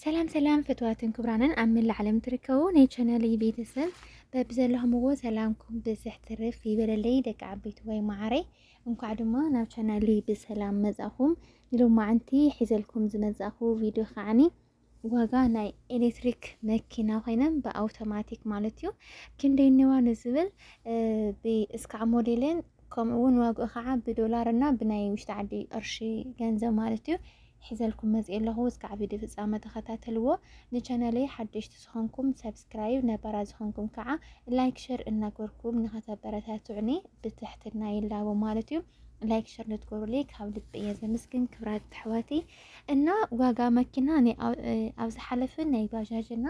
ሰላም ሰላም ፍትዋትን ክብራንን ኣብ መላእ ዓለም ትርከቡ ናይ ቻናለይ ቤተሰብ በብዘለኹምዎ ሰላምኩም ብዝሕ ትርፍ ይበለለይ ደቂ ዓበይቲ ወይ መዓረይ እንኳዕ ድማ ናብ ቻናለይ ብሰላም መጻኹም ንሎማዓንቲ ሒዘልኩም ዝመጻኹ ቪድዮ ከዓኒ ዋጋ ናይ ኤሌክትሪክ መኪና ኮይነን ብኣውቶማቲክ ማለት እዩ ክንደይ ነዋ ንዝብል ብእስካዕ ሞዴልን ከምኡውን ዋግኡ ከዓ ብዶላር እና ብናይ ውሽጢ ዓዲ ቅርሺ ገንዘብ ማለት እዩ ሒዘልኩም መፂኤ ኣለኹ እስካዕ ቪድዮ ፍፃመ ተኸታተልዎ ንቻናለይ ሓደሽቲ ዝኾንኩም ሰብስክራይብ ነባራት ዝኾንኩም ከዓ ላይክ ሸር እናገርኩም ንኸተበረታትዑኒ ብትሕትና ይላቦ ማለት እዩ ላይክ ሸር ልትገብሩለይ ካብ ልቢ እየ ዘመስግን ክብራት ኣሕዋተይ እና ዋጋ መኪና ናይ ኣብ- እ፣ ኣብ ዝሓለፈ ናይ ባጃጅ እና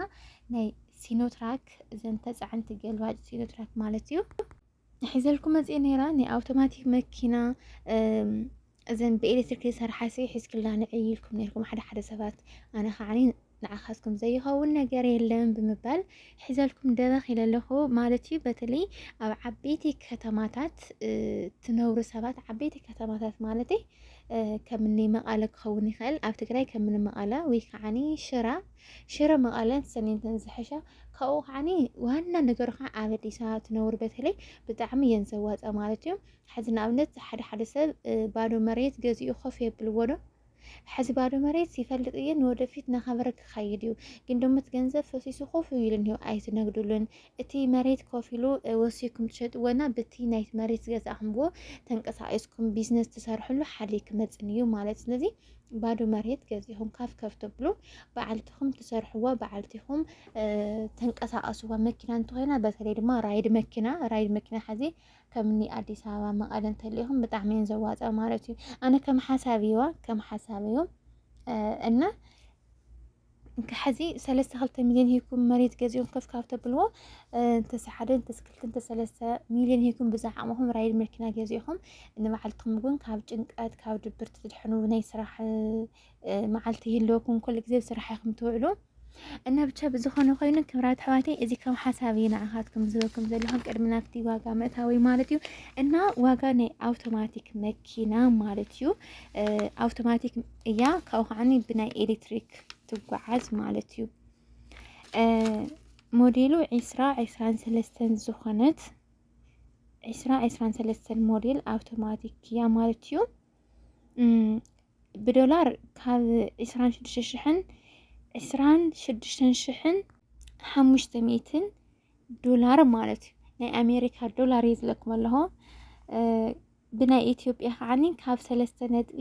ናይ ሲኖትራክ እዘን ተፃዕንቲ ገልባጭ ሲኖትራክ ማለት እዩ ሒዘልኩም መጽኤ ነይራ ናይ ኣውቶማቲክ መኪና እዘን ብኤሌክትሪክ ዝሰርሓ ሲ ሒዝክላ ንዕይ ኢልኩም ነርኩም ሓደ ሓደ ሰባት ኣነ ከዓኒ ንዓኻትኩም ዘይኸውን ነገር የለን ብምባል ሒዘልኩም ደረኽ ኢለ ኣለኹ ማለት እዩ። በተለይ ኣብ ዓበይቲ ከተማታት ትነብሩ ሰባት ዓበይቲ ከተማታት ማለት ከምኒ መቐለ ክኸውን ይኽእል ኣብ ትግራይ ከምኒ መቐለ ወይ ከዓኒ ሽራ ሽረ መቐለን ሰሜንትን ዝሐሻ ካብኡ ከዓኒ ዋና ነገሩ ከዓ ኣብ ኣዲስ ኣበባ ትነብሩ በተለይ ብጣዕሚ እየን ዘዋፀ ማለት እዩ። ሕዚ ንኣብነት ሓደ ሓደ ሰብ ባዶ መሬት ገዚኡ ኮፍ የብልዎ ዶ ሕዚ ባዶ መሬት ይፈልጥ እየ ንወደፊት ናኸበረ ክኸይድ እዩ ግን ደሞ እቲ ገንዘብ ፈሲሱ ኮፍ ኢሉ እንሄው ኣይትነግድሉን እቲ መሬት ኮፍ ኢሉ ወሲኩም ትሸጥዎና ብቲ ናይቲ መሬት ዝገዛእኹምዎ ተንቀሳቂስኩም ቢዝነስ ትሰርሕሉ ሓሊ ክመፅን እዩ ማለት ስለዚ ባዶ መሬት ገዚእኹም ካፍ ከፍ ትብሉ በዓልትኹም ትሰርሕዋ በዓልትኹም ተንቀሳቀስዋ መኪና እንተኾይና በተለይ ድማ ራይድ መኪና ራይድ መኪና ሓዚ ከምኒ ኣዲስ ኣበባ መቐለ እንተሊኹም ብጣዕሚ እየን ዘዋፀ ማለት እዩ ኣነ ከም ሓሳብ እዩዋ ከም ሓሳብ እዩ እና ከሐዚ ሰለስተ ክልተ ሚሊዮን ሂኩም መሬት ገዚኦም ከፍ ካብ ተብልዎ እንተሰ ሓደ እንተስ ክልተ እንተ ሰለስተ ሚሊዮን ሂኩም ብዛ ዓቕምኹም ራይድ መኪና ገዚእኹም ንባዕልትኹም እውን ካብ ጭንቀት ካብ ድብርቲ ትድሕኑ ናይ ስራሕ መዓልቲ ይህልወኩም ኩሉ ግዜ ብስራሕ ኢኹም ትውዕሉ እና ብቻ ብዝኾነ ኮይኑ ክብራት ኣሕዋተይ እዚ ከም ሓሳብ እዩ ንዓኻትኩም ዝህበኩም ዘለኹ ቅድሚ ናብቲ ዋጋ መእታዊ ማለት እዩ እና ዋጋ ናይ ኣውቶማቲክ መኪና ማለት እዩ ኣውቶማቲክ እያ ካብኡ ከዓኒ ብናይ ኤሌክትሪክ ትጓዓዝ ማለት እዩ ሞዴሉ ዒስራ ዒስራን ሰለስተን ዝኾነት ዒስራ ዒስራን ሰለስተን ሞዴል ኣውቶማቲክ እያ ማለት እዩ ብዶላር ካብ ዒስራን ሽዱሽተ ሽሕን ዒስራን ሽዱሽተን ሽሕን ሓሙሽተ ሚእትን ዶላር ማለት እዩ ናይ ኣሜሪካ ዶላር እዩ ዝለኩም ኣለኹ ብናይ ኢትዮጵያ ከዓኒ ካብ ሰለስተ ነጥቢ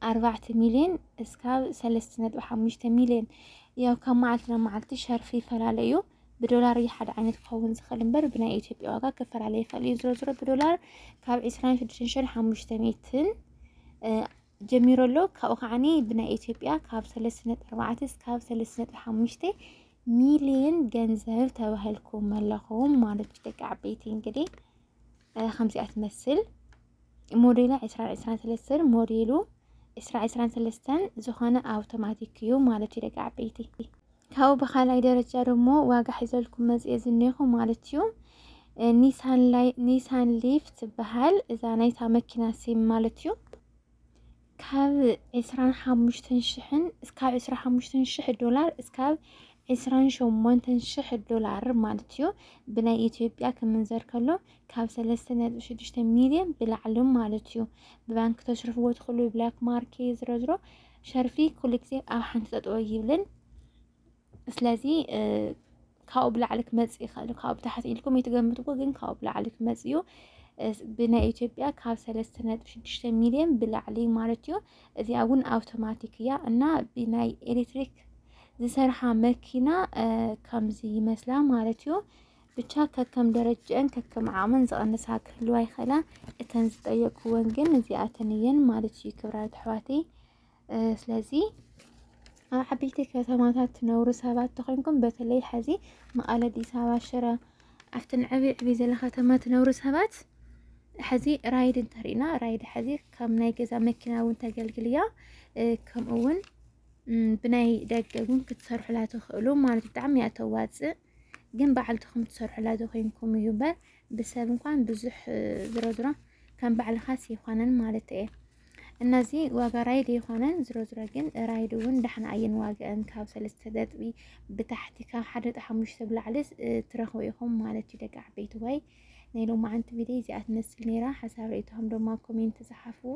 ኣርባዕተ ሚልዮን እስካብ ሰለስተ ነጥቢ ሓሙሽተ ሚልዮን ያው ካብ መዓልቲ ናብ መዓልቲ ሸርፊ ይፈላለ እዩ ብዶላር እዩ ሓደ ዓይነት ክኸውን ዝኽእል እምበር ብናይ ኢትዮጵያ ዋጋ ክፈላለ ይኽእል እዩ ዝሮ ዝሮ ብዶላር ካብ ዕስራን ሽዱሽተን ሽሕን ሓሙሽተ ሚእትን ጀሚሩ ኣሎ። ካብኡ ከዓኒ ብናይ ኢትዮጵያ ካብ ሰለስተ ነጥቢ ኣርባዕተ እስካብ ሰለስተ ነጥቢ ሓሙሽተ ሚሊየን ገንዘብ ተባሂልኩም ኣለኹም ማለት እዩ። ደቂ ዓበይቲ እንግዲህ ከምዚኣ ትመስል ሞዴላ ዕስራ ዕስራን ሰለስተን ሞዴሉ ዕስራ ዕስራን ሰለስተን ዝኾነ ኣውቶማቲክ እዩ ማለት እዩ። ደቂ ዓበይቲ ካብኡ ብካልኣይ ደረጃ ደግሞ ዋጋ ሒዘልኩም መፅኤ ዝኔኹ ማለት እዩ ኒሳን ላይ ኒሳን ሊፍ ትበሃል እዛ ናይታ መኪና ሲም ማለት እዩ ካብ 25 ሽሕን እስካብ 25 ሽሕ ዶላር እስካብ 28 ሽሕ ዶላር ማለት እዩ ብናይ ኢትዮጵያ ክምንዘር ከሎ ካብ 3.6 ሚሊዮን ብላዕሊ ማለት እዩ ብባንክ ተስርፍዎ ትኽእሉ ብላክ ማርኬ ዝረዝሮ ሸርፊ ኩሉ ግዜ ኣብ ሓንቲ ጠጠወ ይብልን ስለዚ ካብኡ ብላዕሊ ክመፅእ ይኽእል ካብኡ ብታሕቲ ኢልኩም ይትገምትዎ ግን ካብኡ ብላዕሊ ክመፅእ እዩ ብናይ ኢትዮጵያ ካብ ሰለስተ ነጥቢ ሽዱሽተ ሚሊዮን ብላዕሊ ማለት እዩ እዚኣ እውን ኣውቶማቲክ እያ እና ብናይ ኤሌክትሪክ ዝሰርሓ መኪና ከምዚ ይመስላ ማለት እዩ ብቻ ከከም ደረጅእን ከከም ዓቕመን ዝቐንሳ ክህልዋ ይኽእላ እተን ዝጠየቅክወን ግን እዚኣተን እየን ማለት እዩ ክብራት ኣሕዋተይ ስለዚ ኣብ ዓበይቲ ከተማታት ትነብሩ ሰባት ተኾይንኩም በተለይ ሐዚ መቐለ፣ ኣዲስ ኣበባ፣ ሽረ ኣብተን ዕብ ዕብ ዘለ ከተማ ትነብሩ ሰባት ሐዚ ራይድ እንተሪእና ራይድ ሐዚ ከም ናይ ገዛ መኪና እውን ተገልግል እያ። ከምኡ እውን ብናይ ደገ እውን ክትሰርሑላ ትኽእሉ ማለት ብጣዕሚ እያ ተዋፅእ። ግን ባዕልትኹም ትሰርሑላ ዘኮይንኩም እዩ በር ብሰብ እንኳን ብዙሕ ዝሮ ዝሮ ከም ባዕልኻስ ይኾነን ማለት እየ እና እዚ ዋጋ ራይድ ይኾነን ዝሮ ዝሮ ግን ራይድ እውን ዳሕና እየን ዋጋአን ካብ ሰለስተ ነጥቢ ብታሕቲ ካብ ሓደ ነጥቢ ሓሙሽተ ብላዕሊ ትረኽቡ ኢኹም ማለት እዩ ደቂ ዓበይቲ ወይ ናይ ሎማዓንቲ ቪድዮ እዚኣ ትመስል ነይራ ሓሳብ ርእይቶኹም ድማ ኮሜንት ዝሓፍዎ